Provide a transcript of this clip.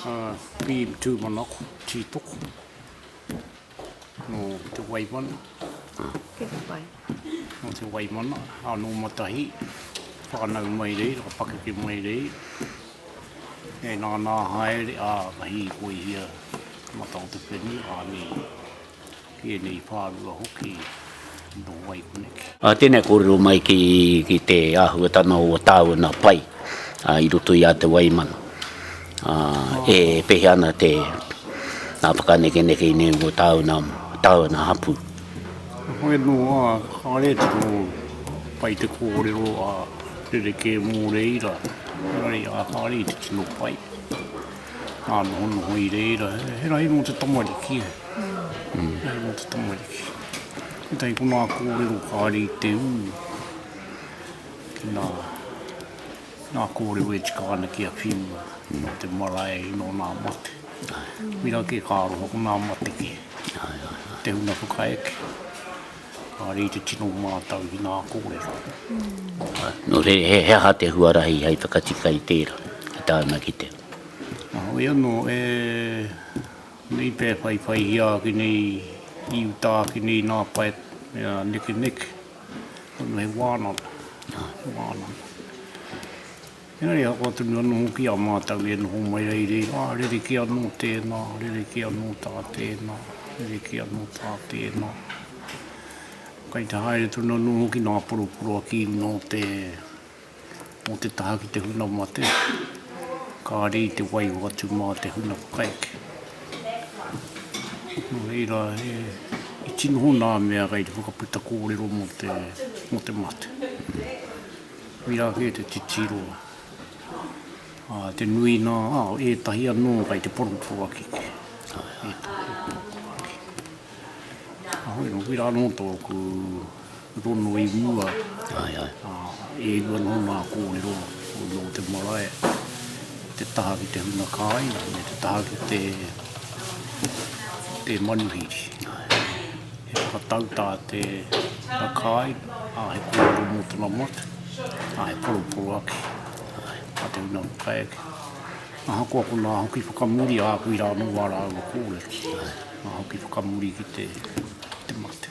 Bean tūmanako, tītoko, nō Te Waimana. Tēnā koe. Nō Te Waimana, ā, nō Matahī, whānau mai reira, ka pakeke mai reira. E nānā haere, ā, ka hīkoihia te mata o te whenua, ānei. Ki ēnei whārua hoki nō wai koneki. Tēnei kōrero mai ki te āhuatanga o tāuna pai i roto i a Te Waimana. E pēhea ana te whakanekeneke i nei o tāuna, tāuna hapū. Heoi anō, kāre tino pai te kōrero a rerekē mō reira, engari a kāre i te tino pai. Hānohonoho i reira, he rahi nō te tamariki e. He rahi nō te tamariki. Tētahi ko ngā kōrero kāre i te ū ki ngā, ngā kōrero e tika ana ki a whiua, nō te marae, nō ngā mate. Wera kē ka aroha ko ngā mate kē. Te huna whakaeke. Engari i te tino mātau ki ngā kōrero. Nō reira, he aha te huarahi hei whakatika i tērā, ki tāna ki te. Heoi anō, e nei pea e whaiwhaihia ake nei, i uta ake nei nā Pat me a Nekeneke, he wānanga, he wānanga. Engari ahakoa tonu anō hoki a mātou e noho mai ai reira, rerekē anō tēnā, rerekē anō tā tēnā, rerekē anō tā tēnā. Kai te haere tonu anō hoki nā poroporoaki nō te, nō te taha ki te huna mate, kāre i te waiho atu mā te huna whakaeke. Nō reira, i tino hōnā mea kei te whakaputa kōrero mō te, mō te mate. Koirā kē te titiro, ā, te nui nā, ā, ētahi anō kei te poroporoaki. Ētahi poroporoaki. Ahoi nō, koirā nō tōku rono i mua. Ai, ai. Ā, e rua nō ngā kōrero o nō te marae, te taha ki te huna kāinga me te taha ki te, te manuhiri. Ai. He whakatau tā te, tā kāinga. Ā, he kōrero mō tana motu, ā, he poroporo ake, ā, mā te ringa o Kaiake. Ahakoa konā hoki whakamuri a Akui rānō wā rāua kōrero, ā, hoki whakamuri ki te mate.